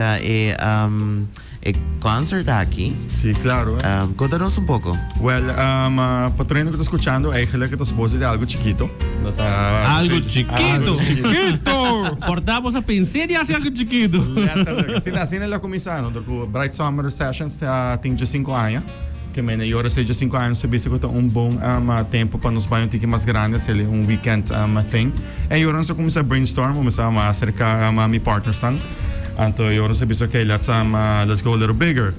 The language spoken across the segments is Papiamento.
Ta e e concert aki. Si, claro. Conta nos un poco. Well, pa treinta cu ta scuchando, eigenlijk het a suposo di algo chikito. No ta. Algo chikito! Algo chikito! Por ta boso pens'é di haci algo chikito. Letterlijk. Asina lo a cuminsa. Nos dor cu Bright Summer Sessions ta tin dje sinku aña. Te mene y ora sejo cinco años ta bisa cu ta un bon tempo pa nos baño tiki mas grandi hacele un weekend thing. Y ora nos a cuminsa brainstorm bo mester a cerca mi partnersnan. Anto y ora nos a bisa okay let's let's go a little bigger.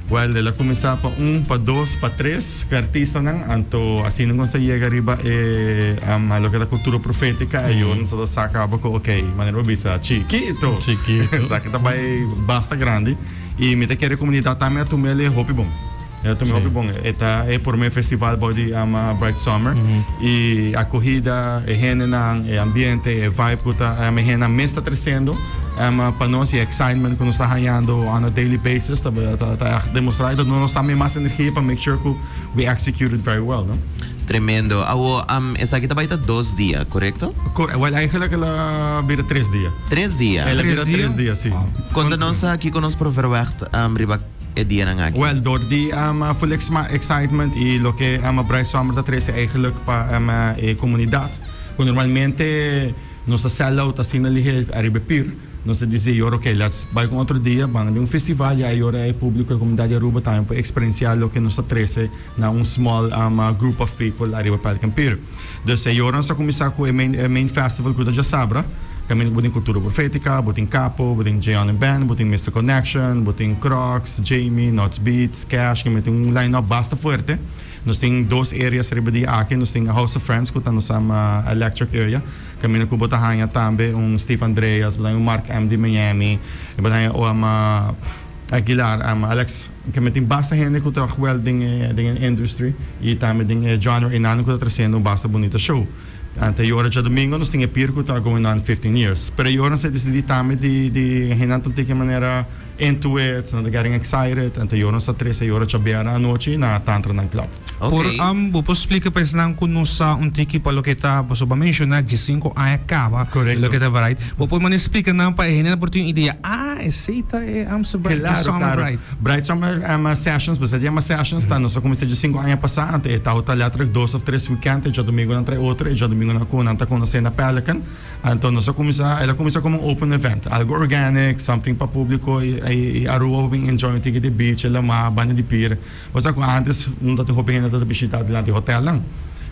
Well el a cuminsa pa un, pa dos, pa tres cu e artistanan. Anto asina nos a yega riba e loke ta cultura profetica y ora nos a saca abo cu okay manera bo bisa chikito esaki ta bay basta grandi. Y mi ta kere comunidad tambe a tuma el'e hopi bon. El'e tuma hopi bon. E ta e prome festival bou di ama Bright Summer. Y acogida, e hendenan, e ambiente, e vibe cu ta ama e hendenan mes ta trecendo ama pa nos. Y e excitement cu nos ta hañando on a daily basis ta ta ta demostra. Entonces nos tambe mas energia pa make sure cu we execute it very well, no. Tremendo. Awo, am, esaki ta bai ta dos dia, korekto? Kore, wèl èigenlèk el a bira tres dia. Tres dia? El a bira tres dia, sí. Konta nos kiko nos por verwègt riba e dianan aki? Wèl, dor di full excitement i loke Bright Summer ta trese èigenlèk pa e komunidat, ku normalmente nos ta sell out asina lihe ariba e pir, nos ta disi e jor, oké, lèts bai ku un otro dia, banga den un festival, ya e jor e públiko, e komunidat di Aruba tambe por eksperensiá loke nos ta trese. Na un small group of people ariba Pelican Pier. Dus e yoran sa kuminsá ku e main festival ku ta dja sabra. Kaminda bo tin Kultura Profetika, bo tin Kapo, bo tin Jay Allen Band, bo tin Mister Connection, bo tin Crocs, Jamie, Nots Beats, Cash, ke mi tin un line up basta fuerte. Nos tin dos areas riba di aki. Nos tin House of Friends ku ta nos electric area, kaminda ku bo ta haña tambe un Steve Andreas, bo ta haña un Mark MD Miami, bo ta haña Aguilar, Alex. Keme tin basta hende ku ta huel den e den e industry i tambe den e genre enano ku ta trasendo un basta bunita show. Ante e yora djadumingo nos tin e pir ku ta going on fifteen years. Pero e yora nos a desidí tambe di di hendenan ta un tiki manera into it, nan ta getting excited. Ante e yora nos a trese e yora djabera anochi na Tantra Night Club. Por am bo por splica pa esnan cu no sa un tiki pa loke ta paso bo a menciona dje cinco aña caba y loke ta bright. Bo por manda splica nan pa e hende nan por tin un idea, ah esey ta e amster bright ta summer bright. Claro, bright summer ama sessions, besa di ama sessions ta nos a cuminsa dje cinco aña pasa anto e tao ta letterlijk dos of tres weekend e djadomingo nan trae otro e djadomingo nan cu nan ta conoce na Pelican anto nos a cuminsa el a cuminsa como un open event algo organic something pa publico y Aruba por bin enjoy un tiki di beach e lamar banda di pier. Bo sa cu antes un ta tin hopi hende ta ta bishita dilanti hotelnan.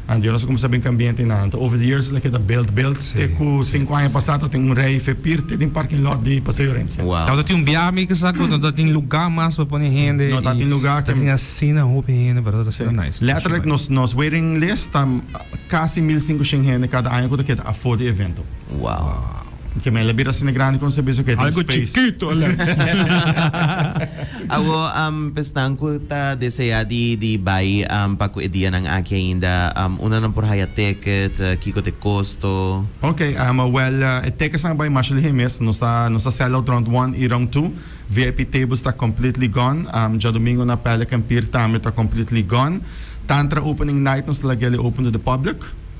Anto yo no sa como sa bin cambia hende na anto. Over the years lo keda built built te cu cinco aña pasa ta tin un rij fepir te den parking lot di Paseo Orense. Wow. Anto tin un biaha mi ki sa cu no ta tin lugar mas pa pone hende. No ta tin lugar. Ta tin asina hopi hende pero ta asina nice. Letterlijk nos nos waiting list ta casi mil cincoshent hende cada aña cu ta keda afor di evento. Wow. Porque mi a la bira asina grandi con sabi esoque ta Algo space. chikito a la. Awo um pesnan cu ta desea di di bay um pa cu e dianan aki ainda um una nan por haya ticket? Kico ta e costo? Ok um well e tickets nan a bay masha lihe mes nos ta nos ta sell out round one y round two vip tables ta completely gone um djadomingo na Pelican pier tambe ta completely gone tantra opening night nos ta laguele open to the public.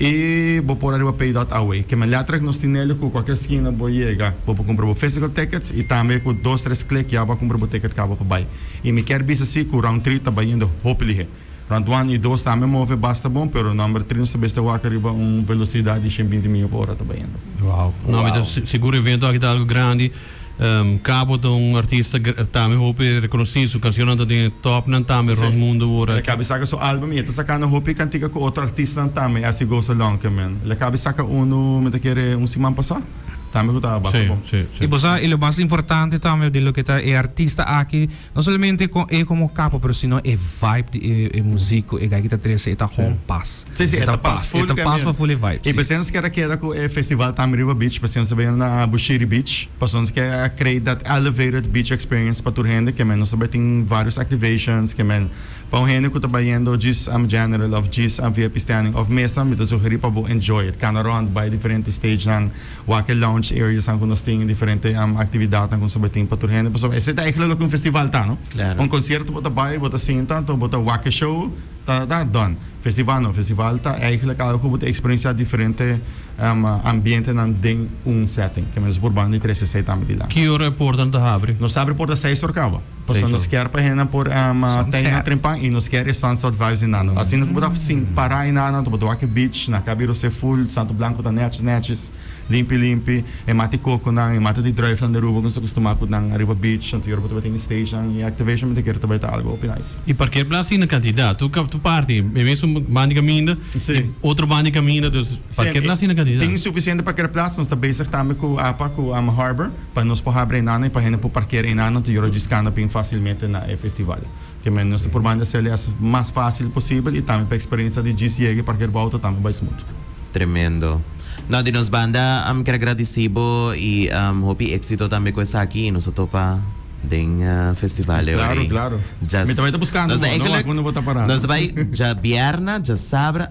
E bo por ariba pay dot away keme letra ku nos tin neli ku kualkier skina bo yega bo por kumpra bo physical tickets i tambe ku dos tres klik ya bo a kumpra bo ticket kaba pa bay i mi kier bisa si ku round three ta bayendo hopi lihe round one i dos tambe move basta bon pero number three nos ta bes ta wak ariba un velocidad di shen binti mia pa ora ta bayendo. Wow. No mi ta sigur evento aki ta algo grandi. Cabo ta un artista tambe hopi reconocido. Su cancionnan ta den e topnan tambe rond mundo ora. El a caba saca su album y e ta sacando hopi cantica cu otro artistanan tambe haci goza lonkee men. El a caba saca uno, mi ta kere un siman pasá, tambe cu tabas bo. Y bosa y lo mas importante tambe di loke ta e artista aki No solamente con e como capo pero sino e vibe di e e muziek cu e gay ki ta trece e ta gewoon pas. Sí, sí, e ta pas full también. E ta pas pa full e vibe, sí. Pasobra nos quier a keda cu e festival ta ami riba beach, pasobra nos ta bini na Bushiri Beach, pasobra nos quier a create that elevated beach experience pa tur hende, kemey nos ta bay tin varios activations, kemey pa un hende cu ta bayendo djis am general of djis am vip standing of mesa mi ta sugeri pa bo enjoy it, cana rond, bay diferente stagenan. Wak-e lounge areasnan ku nos tin, diferente aktividatnan ku nos a bai tin pa tur hende. Pasobra esei ta eigenlijk loke un festival ta, no? Un konsierto bo ta bai, bo ta sinta, anto bo ta wak-e show, ta, ta, dòn. Festival no, festival ta eigenlijk algu ku bo ta eksperensiá diferente ambientenan den un sètting. Ke men nos a purbando di trese esei tambe di lak. Ki ora e portanan ta habri? Nos ta habri porta seis ora kawa. Pasobra nos kier pa hendenan por tei nan trempan i nos kier e sunset vibes di nan. Asina ku bo ta para i nan anto bo ta wak e beach na Cabo Rosé full santo blanco ta nèchis nèchis limpi limpi e mata di kokonan e mata di druifnan di Aruba ku nos ta kustumá kut nan ariba beach anto yòrbo tabata tin stagenan i activation mi ta kere tabata algu hopi nice. I parkea plats tin na kantidat tu tu parti e mesun banda di kaminda i otro banda di kaminda dus parkea plats tin na kantidat. Tin sufisiente parkea plats nos ta bezig tambe ku apa ku Harbor. Pa nos por habri enano y pa hende por parkera enano ta yora djiscando bin facilmente na e festival. Kemey nos ta purbando hacer el as mas facil posibel y tambe pa experencia di djis yega y parkera bo auto tambe bay smooth. Tremendo. No, di nos banda am ker gradici bo y am hopi exito tambe cu esaki y nos ta topa den festival e ora y. Claro, claro. Mi ta bay ta buscando bo, no wak bo no bo ta parando. Nos ta bay dja bierna, dja sabra.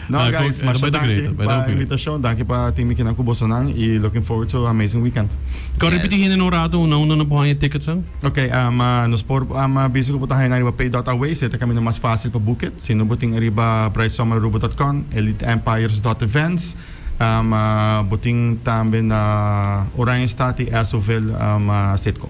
No guys, masha danki pa invitashon, danki pa tin mi kina ku bosonan i looking forward to amazing weekend. Kò ripití hende na un ratu na unda no por haña tickets an? Ok, nos por bisa ku bo ta haña nan riba Pay dot Away, si e ta kaminda mas fásil pa boek it. Si no bo tin riba Bright Summer Aruba dot com, Elite Empires dot events. Bo tin tambe na Oranje Staat i Esoville State Co.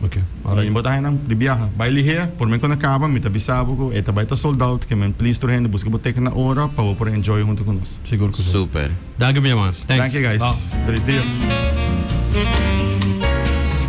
Ok, ora mi bo ta haña nan di biaha. Bai ligea, por men kunda kaba mi ta bisa bo ku e ta bai ta sold out, ke men please tur hende buska bo teken na ora pa bo por enjoy huntu ku nos. Sigur ku si. Super. Danki mi hermans. Thanks. Danki guys. Felis dia.